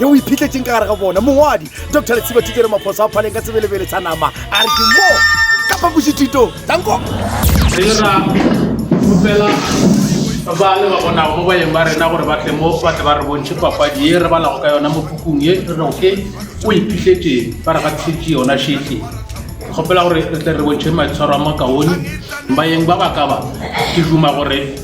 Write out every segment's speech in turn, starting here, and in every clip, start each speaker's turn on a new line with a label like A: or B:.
A: ye o iphitletseng ka gare ga bona mongwadi dr letshiba thutelo maphoso a phaleng ka sebelebele tsa nama a re ke mo ka phapošithito tanko
B: ba le ba bonago mo bayeng ba rena gore batle mo ba tle ba re bontšhe papadi ye re balago ka yona mo pukung ye re rego ke o iphitletseng ba re gatišetše yona šetle kgopela gore re tle re bontšhe maitshwaro a makaone bayeng ba ba ka ba ke duma gore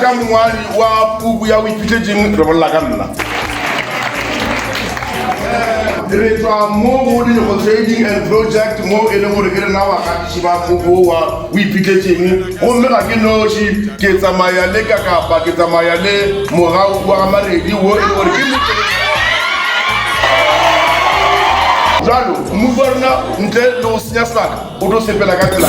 C: ka mongwadi wa puku ya boiphitletseng re bolela ka nna re tswa mo go dinego trading and project mo e leng gore ke rena bagatiši ba puku wa o iphitletseng gomme ga ke noši ke tsamaya le kakapa ke tsamaya le mogau wa gamaredi wo e le gore ke jalo mmupa rona ntle le go senya sebaka o tlo sepela ka tsela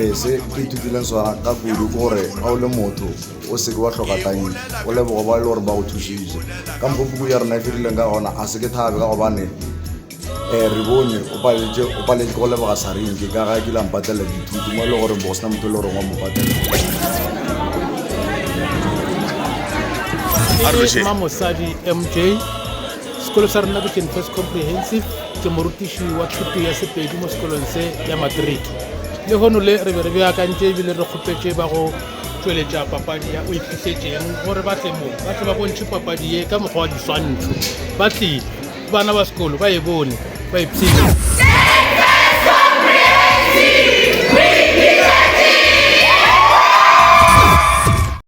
D: ee se ke ithutileng sona ka kudu ke gore ga o le motho o seke wa tlhoka tanki o lebogo ba e le gore ba go thusitse ka mokgwa puku ya rona e fedileng ka gona a se ke thabe ka gobane um re bone o paletse o paletse go leboga sarinki ka ga kile mpatlela dithuti mo e le goreng bo go sena motho e le goreng wa mo patlela mosadi
B: mj sekolo sa rona ke comprehensive Ke morutiši wa thuto ya Sepedi mo sekolong se ya matriki. Lehono le re be re beakantše ebile re kgopetše ba go tšweletša papadi ya O Iphihletseng gore ba tle mo ba tle ba bontšhe papadi ye ka mokgwa wa diswantšho. Ba tlile. Bana ba sekolo ba e bone, ba e pshinye.